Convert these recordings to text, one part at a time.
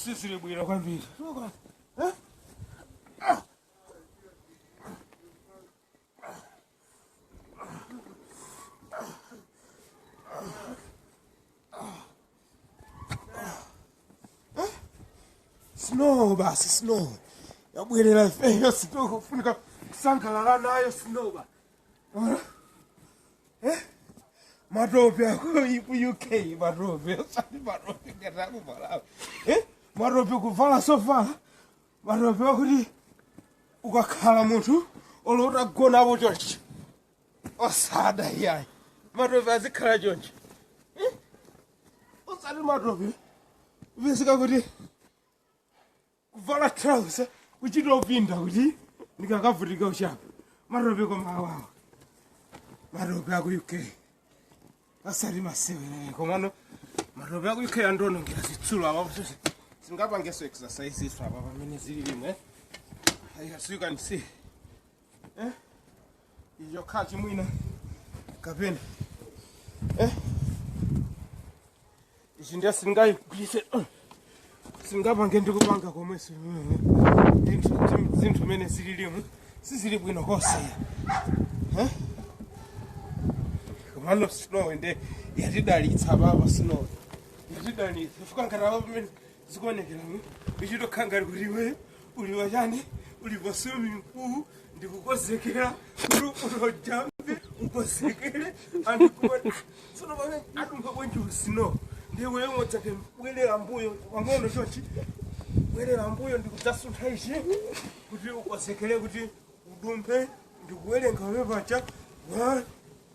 Sisi ni bwira kwambiri. Eh? Ah. snow basi snow yabwerera ifeyo snow kufunika kusangalala nayo snow baba. Eh? matope aku uk matope osati matope ngati akuvalawo Eh? matope kuvala zovala matope akuti ukakhala munthu olota gonapo chonchi osada iyayi matope azikhala choncho Eh? osati matope visika kuti kuvala trausa kuchita upinda kuti ndikakavutika uchapa matope koma awawa matope aku uk osati masewera komano matope aku uk andionongera zitsulo apa kuti singapangeso exercise iso apa pamene zililimu as you can see eh iyo khathi mwina kapena eh ichi ndiye sindingayigwiritse singapange ndikupanga komwenso zinthu mene zililimu sizili bwino konse Eh? komano snow nde yatidalitsa baba snow yatidalitsa chifukwa ngati apa pamene zikuonekeramu ichitokhala ngati kuti iwe uli wachani uli pa swimming pool ndikukozekera kuti ujampe ukozekere andikuona tsono pamene adumpha bwenji snow ndiye iwe ngodzake bwerera mbuyo pang'ono chochi bwerera mbuyo ndikudzasuntha ichi kuti ukozekere kuti udumphe ndikuwerenga wewe pacha one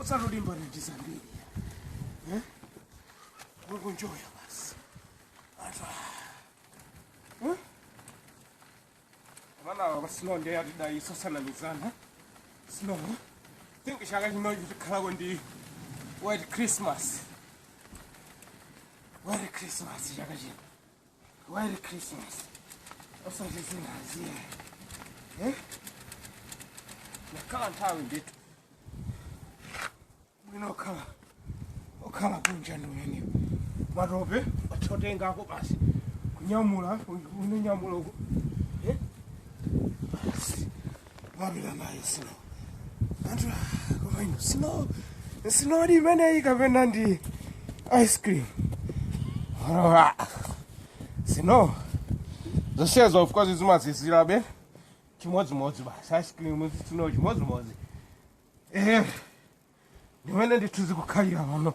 osalimbana ndi zambiri kuenjoya basi ata baba snow nde yatidalitsa osanamizana snow think chaka chino tikhalako ndi white christmas white christmas chaka chino White Christmas. Osati zinazija. Eh? Nakhala nthawi ndithu. Bwino okhala. Okhala kunja ndi umene. Matope othotenga ako basi. Kunyamula, unyamula uku. Eh? Basi. wapita mayi snow anthu ah, koma ino snow snowdi imeneyi kapena ndi ice cream Ah, snow zonsezo of course zimazizirabe chimodzimodzi basi ice cream snow chimodzimodzi eh ndimene ndithu zikukhalira pano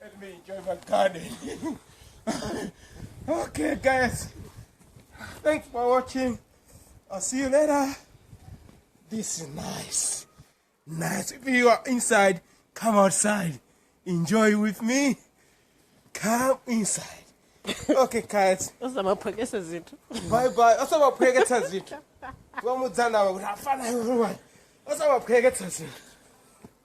Let me enjoy my garden. okay, guys. Thanks for watching. I'll see you later. This is nice. Nice. If you are inside, come outside. Enjoy with me. Come inside. Okay, guys. usamaphokese zinthu Bye bye. Osamaphweketsa zinthu. Wamudzana kuti afana iwe. Osamaphweketsa zinthu.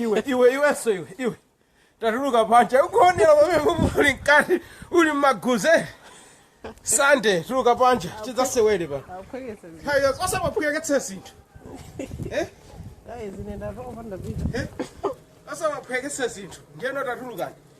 iwe iwe iwenso iwe iwe tatuluka panja ukuonera pamene uli mkati uli mmaguze sande tuluka panja tidzasewere pano osamaphweketsa zinthu Eh? Eh? osamaphweketsa zinthu ndiyeno tatulukani